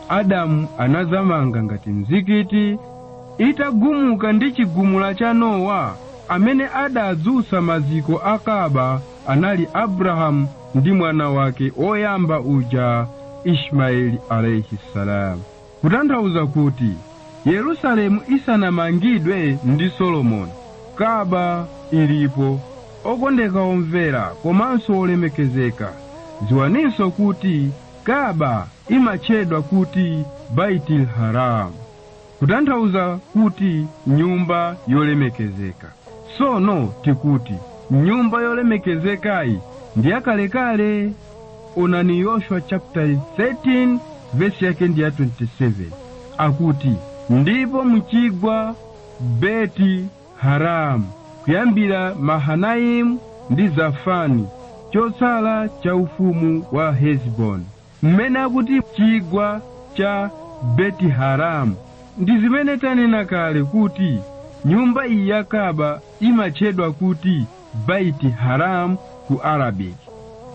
Adamu anazamanga ngati mzikiti itagumuka ndi chigumula cha Nowa amene adadzutsa maziko a Kaaba anali Abrahamu ndi mwana wake oyamba uja Ishmaeli alayhi salam. Kutanthauza kuti Yerusalemu isanamangidwe ndi Solomoni, Ka'bah ilipo. Okondeka omvera komanso olemekezeka, dziwaninso kuti Ka'bah imatchedwa kuti Baytil Haraam, kutanthauza kuti nyumba yolemekezeka. Sono tikuti nyumba yolemekezekayi ndi yakalekale. onani yoshua chapter 13 vesi yake ndi ya 27 akuti ndipo mchigwa beti haramu kuyambira mahanaimu ndi zafani chotsala cha ufumu wa heziboni mmene akuti chigwa cha beti haramu ndi zimene tanena kale kuti nyumba iyi ya kaaba imatchedwa kuti Baiti Haram ku Arabic.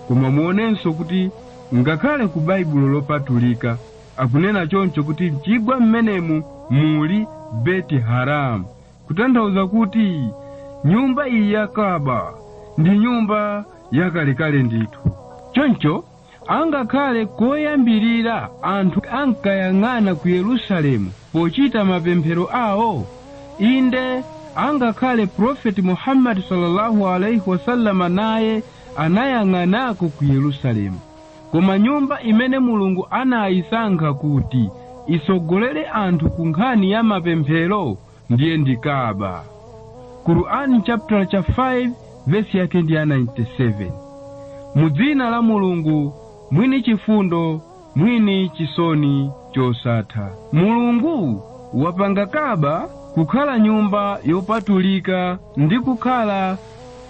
Koma muonenso kuti ngakhale ku Baibulo lopatulika akunena choncho kuti mchigwa mmenemu muli Beti Haram, kutanthauza kuti nyumba iyi ya Kaaba ndi nyumba yakalekale ndithu. Choncho Angakhale koyambirira anthu ankayang'ana ku Yerusalemu pochita mapemphero awo, inde, angakhale Prophet Muhammad sallallahu alaihi wasallam naye anayang'anako ku Yerusalemu. Koma nyumba imene Mulungu anayisankha kuti itsogolere anthu ku nkhani ya mapemphero ndiye ndi kaaba qur'an chapter 5 vesi yake ndi ya 97 mu dzina la mulungu mwini chifundo mwini chisoni chosatha mulungu wapanga kaaba kukhala nyumba yopatulika ndi kukhala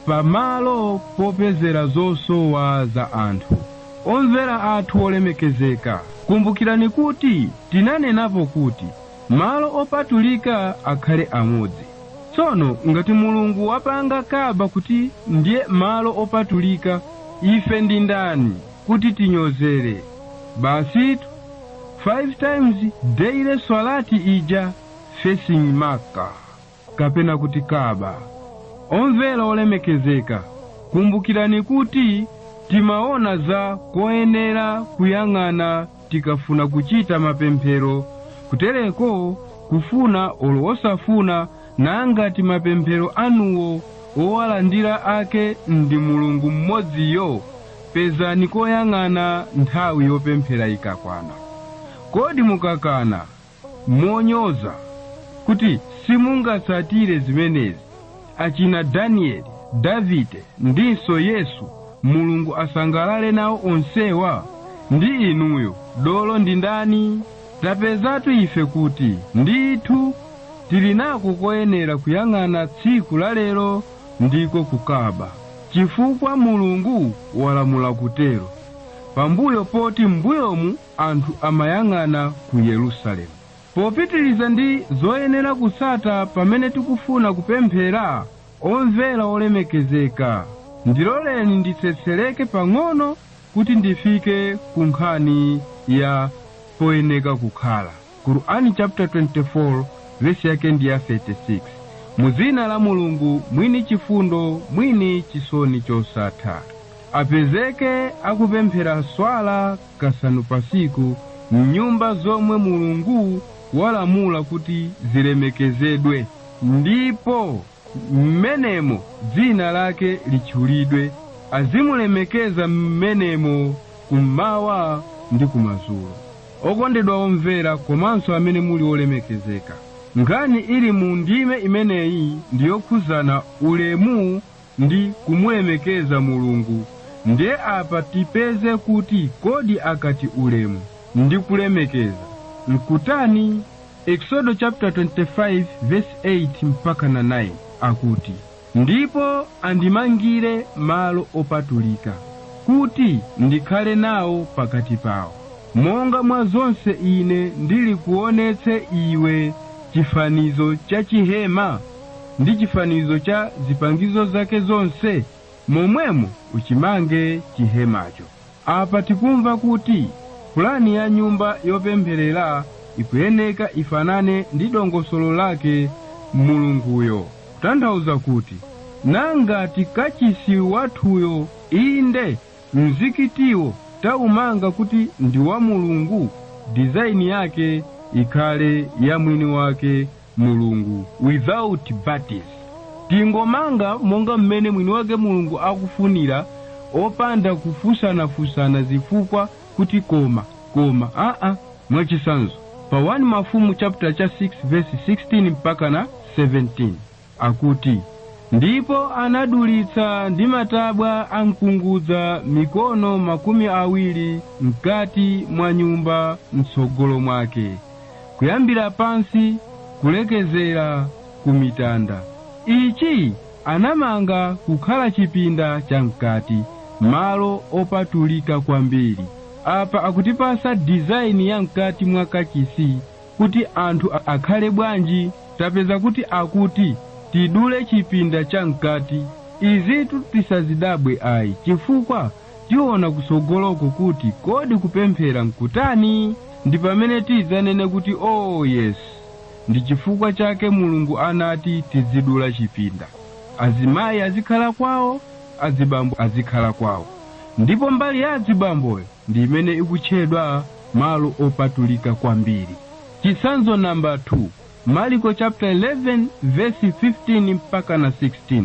pamalo popezera zosowa za anthu omvera athu olemekezeka kumbukirani kuti tinanenapo kuti malo opatulika akhale amodzi tsono ngati mulungu wapanga kaaba kuti ndiye malo opatulika ife ndi ndani kuti tinyozere basitu 5 times daily swalati ija facing maka kapena kuti Kaaba omvera olemekezeka kumbukirani kuti timaona za koyenera kuyang'ana tikafuna kuchita mapemphero kutereko kufuna olo osafuna nangati mapemphero anuwo owalandira ake ndi mulungu mmodziyo pezani koyang'ana nthawi yopemphera ikakwana kodi mukakana monyoza kuti simungatsatire zimenezi achina danieli davide ndinso yesu mulungu asangalale nawo onsewa ndi inuyo dolo ndi ndani tapezatu ife kuti ndithu tili nako koyenera kuyang'ana tsiku la lero ndiko ku Kaaba chifukwa mulungu walamula kutero pambuyo poti m'mbuyomu anthu amayang'ana ku Yerusalemu. Popitiriza ndi zoyenera kutsata pamene tikufuna kupemphera, omvera olemekezeka, ndiloleni nditsetsereke pang'ono kuti ndifike ku nkhani ya poyenera kukhala. Qur'an chapter 24 verse yake ndi ya 36. Mu dzina la Mulungu mwini chifundo mwini chisoni chosatha. Apezeke akupemphera swala kasanu patsiku mnyumba zomwe mulungu walamula kuti zilemekezedwe ndipo mmenemo dzina lake litchulidwe azimulemekeza mmenemo kummawa ndi kumadzulo okondedwa omvera komanso amene muli olemekezeka nkhani ili mu ndime imeneyi ndiyokhudzana ulemu ndi kumulemekeza mulungu nde apa tipeze kuti kodi akati ulemu ndi kulemekeza nkutani eksodo chapter 25 verse 8 mpaka na 9 akuti ndipo andimangire malo opatulika kuti ndikhale nawo pakati pawo monga mwa zonse ine ndili kuonetsa iwe chifanizo cha chihema ndi chifanizo cha zipangizo zake zonse, Momwemo uchimange chihemacho. Apa tikumva kuti pulani ya nyumba yopempherera ikuyeneka ifanane ndi dongosolo lake Mulunguyo, kutanthauza kuti nangati kachisi wathuyo inde mzikitiwo taumanga kuti ndi wa Mulungu, dizaini yake ikhale ya mwini wake mulungu without buts tingomanga monga mmene mwini wake mulungu akufunira opanda kufunsanafunsana zifukwa kuti koma koma aa mwachisanzo pa 1 mafumu chapter cha 6 verse 16 mpaka na 17 akuti ndipo anadulitsa ndi matabwa a mkungudza mikono makumi awiri mkati mwa nyumba mtsogolo mwake kuyambira pansi kulekezera ku mitanda ichi anamanga kukhala chipinda cha mkati malo opatulika kwambiri apa akutipasa dizaini ya mkati mwa kachisi kuti anthu akhale bwanji tapeza kuti akuti tidule chipinda cha mkati izitu tisazidabwe ayi chifukwa tiona kutsogoloko kuti kodi kupemphera nkutani ndi pamene tidzanene kuti oh yes ndi chifukwa chake mulungu anati tidzidula chipinda azimayi azikhala kwawo adzibambo azikhala kwawo ndipo mbali ya adzibamboyo ndi imene ikutchedwa malo opatulika kwambiri chitsanzo namba 2 mariko chapter 11 verse 15 mpaka na 16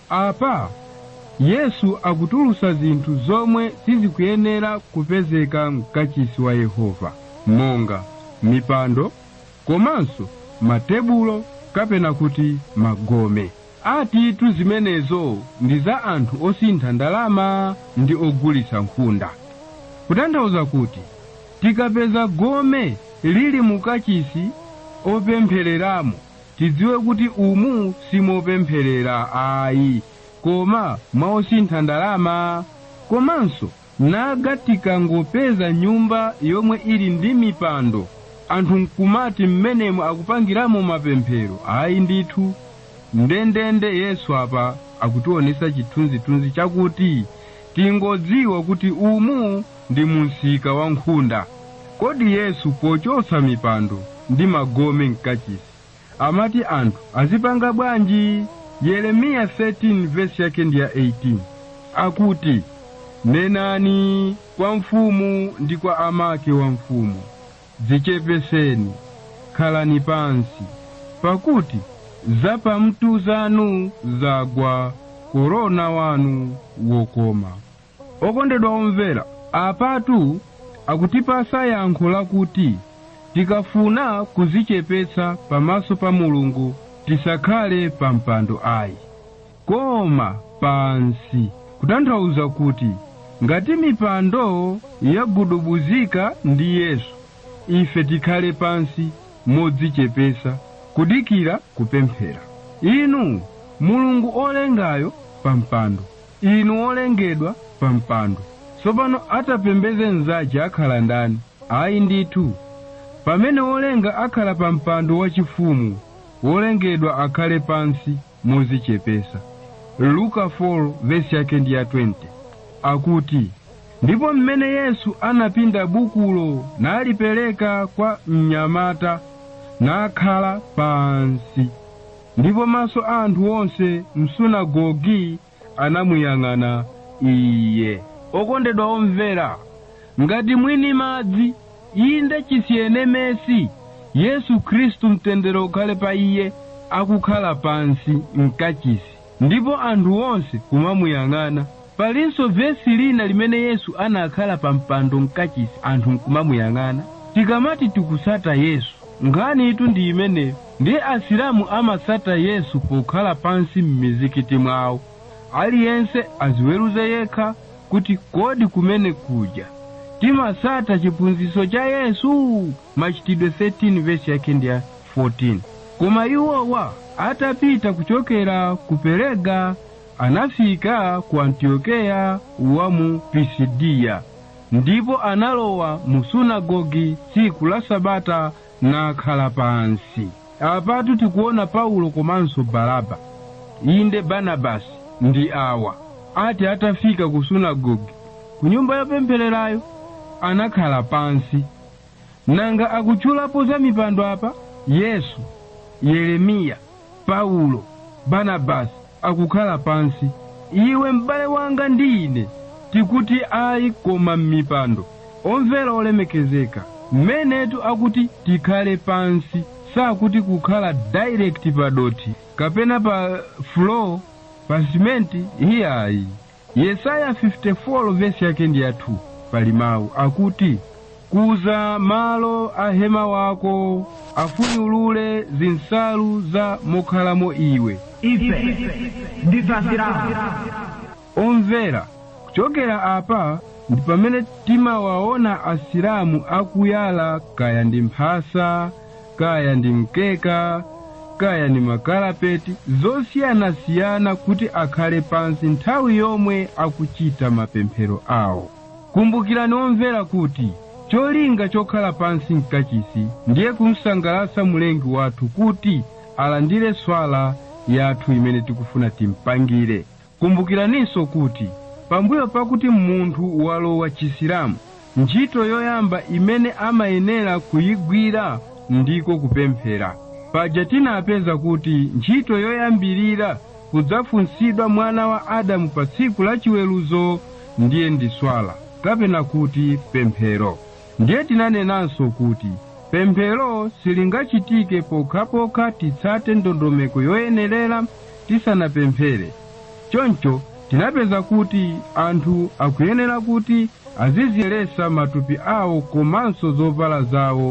Apa Yesu akutulutsa zinthu zomwe sizikuyenera kupezeka mkachisi wa Yehova monga mipando komanso matebulo kapena kuti magome. Atitu zimenezo ndi za anthu osintha ndalama ndi ogulitsa nkhunda. Kutanthauza kuti tikapeza gome lili mukachisi opemphereramo Tidziwe kuti umu simopempherera ayi koma mwa osintha ndalama komanso nanga tikangopeza nyumba yomwe ili ndi mipando anthu nkumati mmenemo akupangiramo mapemphero ayi ndithu ndendende yesu apa akutionesa chithunzithunzi chakuti tingodziwa kuti umu ndi mumsika wa nkhunda. Kodi Yesu pochotsa mipando ndi magome m'kachisi amati anthu azipanga bwanji? Yeremiya 13 vesi yake ndi ya 18 akuti, Nenani kwa mfumu ndi kwa amake wa mfumu, dzichepeseni, khalani pansi, pakuti zapamtu zanu zagwa korona wanu wokoma. Okondedwa omvera, apatu akutipatsa yankho lakuti tikafuna kuzichepetsa pamaso pa Mulungu tisakhale pa mpando ayi, koma pansi, kutanthauza kuti ngati mipando yagudubuzika ndi Yesu, ife tikhale pansi modzichepetsa kudikira kupemphera. Inu Mulungu olengayo pa mpando, Inu wolengedwa pa mpando. Tsopano atapembedze mnzache akhala ndani? Ayi ndithu. Pamene wolenga akhala pa mpando wachifumu, wolengedwa akhale pansi modzichepetsa. Luka 4 vesi yake ndi ya 20. Akuti, Ndipo m'mene Yesu anapinda bukulo nalipereka kwa mnyamata nakhala pansi. Ndipo maso a anthu onse m'sunagoge anamuyang'ana Iye. Okondedwa omvera, ngati mwini madzi, inde chisienemesi, Yesu Khristu, mtendere ukhale pa Iye, akukhala pansi m'kachisi, ndipo anthu onse kumamuyang'ana, palinso vesi lina limene Yesu anakhala pa mpando m'kachisi anthu nkumamuyang'ana. Tikamati tikutsata Yesu, nkhanitu ndi imeneyo. Ndiye Asilamu amatsata Yesu pokhala pansi m'mizikiti mwawo. Aliyense aziweruze yekha kuti kodi kumene kuja timatsata chiphunzitso cha Yesu? Machitidwe 13 vesi yake ndi ya 14. Koma iwowa atapita kuchokera ku Perega anafika ku Antiokeya wa mu Pisidiya ndipo analowa mu sunagogi tsiku la Sabata nakhala pansi. Apatu tikuona Paulo komanso Baraba, inde Barnabasi, ndi awa ati atafika ku sunagoge, ku nyumba yopemphererayo, anakhala pansi. Nanga akutchulapo za mipando apa? Yesu, Yeremiya, Paulo, Barnabasi akukhala pansi. Iwe m'bale wanga ndi ine tikuti ayi koma m'mipando. Omvera olemekezeka, mmenetu akuti tikhale pansi sakuti kukhala direct pa dothi kapena pa floor pa simenti iyayi. Yesaya 54 vesi yake ndi ya 2 pali mawu akuti kuza malo a hema wako afunyulule zinsalu za mokhalamo iwe ife ndife asilamu omvera kuchokera apa ndi pamene timawaona asilamu akuyala kaya ndi mphasa kaya ndi mkeka kaya ndi makalapeti zosiyanasiyana kuti akhale pansi nthawi yomwe akuchita mapemphero awo kumbukirani omvera kuti cholinga chokhala pansi mkachisi ndiye kumsangalatsa mulengi wathu kuti alandire swala yathu imene tikufuna timpangire Kumbukiraninso kuti pambuyo pakuti munthu walowa Chisilamu, ntchito yoyamba imene amayenera kuyigwira ndiko kupemphera. Paja tinapeza kuti ntchito yoyambilira kudzafunsidwa mwana wa Adamu pa tsiku la chiweruzo ndiye ndi Swala kapena kuti pemphero. Ndiye tinanenanso kuti pemphero silingachitike pokhapokha titsate ndondomeko yoyenerera tisanapemphere. Choncho tinapeza kuti anthu akuyenera kuti aziziyeretsa matupi awo komanso zovala zawo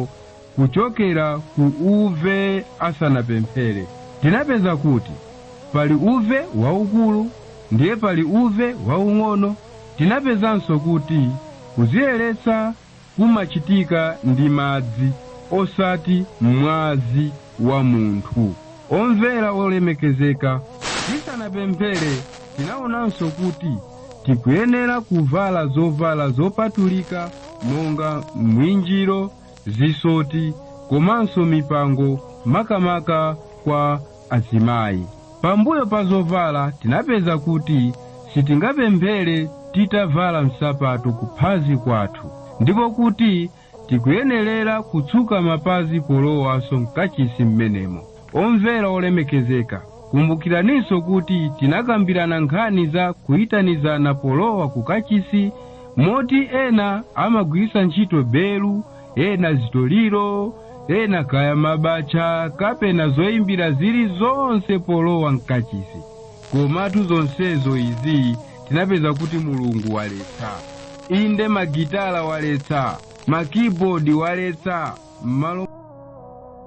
kuchokera ku uve asanapemphere tinapeza kuti pali uve waukulu ndiye pali uve waung'ono tinapezanso kuti kuziyeretsa kumachitika ndi madzi osati mwazi wa munthu omvera olemekezeka tisanapemphere tinaonanso kuti tikuyenera kuvala zovala zopatulika monga mwinjiro zisoti komanso mipango makamaka kwa azimayi pambuyo pa zovala tinapeza kuti sitingapemphere titavala nsapato kuphazi kwathu ndipo kuti tikuyenerera kutsuka mapazi polowanso mkachisi mmenemo omvera olemekezeka kumbukiraninso kuti tinakambirana nkhani za kuyitanizana polowa ku kachisi moti ena amagwiritsa ntchito belu ena zitoliro ena kaya mabacha kapena zoyimbira zili zonse polowa mkachisi komatu zonsezo izi tinapeza kuti mulungu waletsa inde magitala waletsa makibodi waletsa m'malo